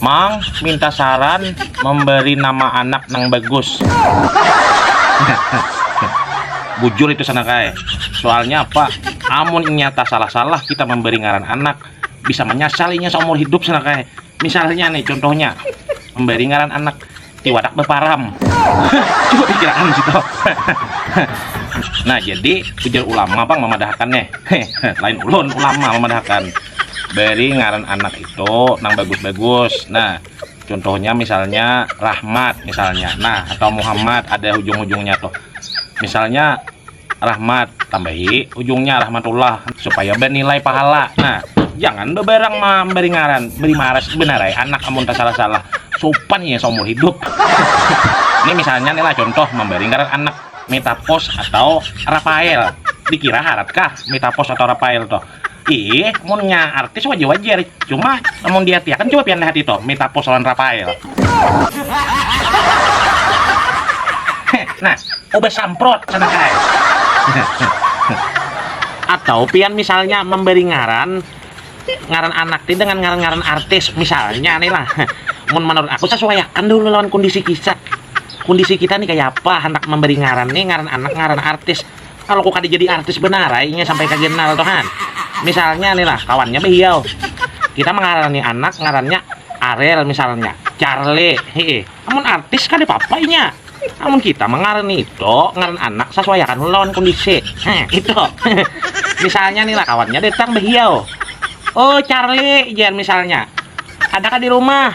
Mang, minta saran memberi nama anak nang bagus. Bujur itu sanakai. Soalnya apa? Amun inya tasalah-salah kita memberi ngaran anak, bisa menyasal inya saumur hidup sanakai. Misalnya nih contohnya, memberi ngaran anak tiwadak baparam coba dikirakan gitu nah jadi ujar ulama bang memadahakan nih lain ulun ulama memadahakan beri ngaran anak itu nang bagus-bagus nah contohnya misalnya Rahmat misalnya nah atau Muhammad ada ujung-ujungnya tuh misalnya rahmat tambahi ujungnya rahmatullah supaya bernilai pahala nah jangan beberang memberi ngaran beri maras benarai anak amun salah salah sopan ya seumur hidup ini misalnya nih lah contoh memberi ngaran anak metapos atau rafael dikira haratkah metapos atau rafael toh Ih, munnya artis wajar-wajar. Cuma, namun diartiakan coba pian lihat itu, Mita Pus lawan Rafael. nah, ubah samprot sana kai. Atau pian misalnya memberi ngaran ngaran anak ti dengan ngaran-ngaran artis misalnya nih lah. Mun menurut aku sesuaiakan dulu lawan kondisi kisah. Kondisi kita nih kayak apa hendak memberi ngaran nih ngaran anak ngaran artis. Kalau ku kada jadi artis banar ai inya sampai kaganal tu han. Misalnya nih lah kawannya bahiau. Kita mangarani anak ngarannya Arel misalnya, Charle, hee. Amun artis kada papa inya. Amun kita mangarani itu ngaran anak sasuaiakan lawan kondisi. Heh, itu. misalnya nih lah kawannya datang bahiau. Oh, Charle, jar misalnya. Ada ka di rumah?